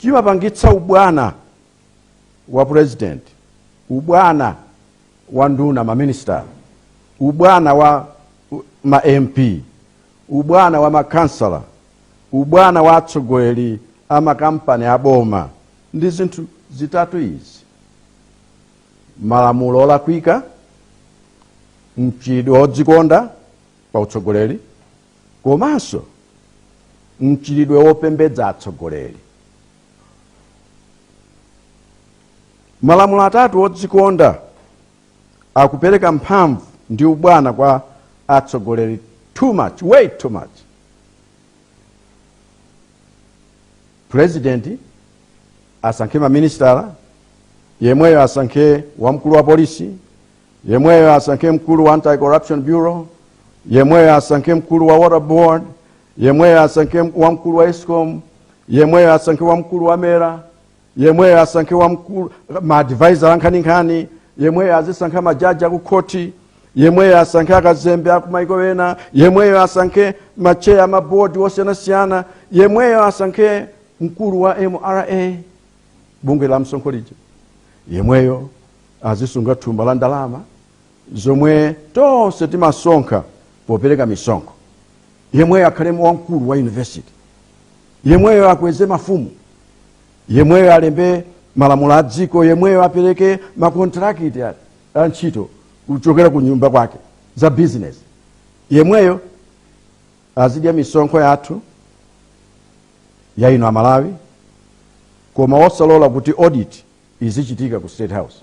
chimapangitsa ubwana wa president ubwana wa nduna maministala ubwana wa u- ma mp ubwana wa makansala ubwana wa atsogoleri a makampani aboma ndi zinthu zitatu izi malamulo olakwika mchitidwe wodzikonda pa utsogoleri komanso mchitidwe wopembedza atsogoleri. Malamulo athu odzikonda akupereka mphamvu ndi ubwana kwa atsogoleri too much, way too much. President asankhe maministala, yemweyo asankhe wamkulu wa polisi, yemweyo asankhe mkulu wa anti-corruption bureau yemweyo asankhe mkulu wa water board yemweyo asankhe wamkulu wa escom yemweyo asankhe wamkulu wa mera yemweyo asankhe maadvisor ankhaninkhani yemweyo azisankha majaji akukhoti yemweyo asankhe akazembe akumaiko ena yemweyo asankhe macheya amabodi osiyanasiyana yemweyo asankhe mkulu wa mra bungwe la msonkho lija yemweyo azisunga thumba la ndalama zomwe tonse timasonkha popereka misonkho yemweyo akhale wamkulu wa yunivesiti yemweyo akweze mafumu yemweyo alembe malamulo a dziko yemweyo apereke makontrakiti a- a ntchito kuchokera ku nyumba kwake za bizinesi yemweyo azidya misonkho yathu ya inu amalawi koma osalola kuti audit izichitika ku state house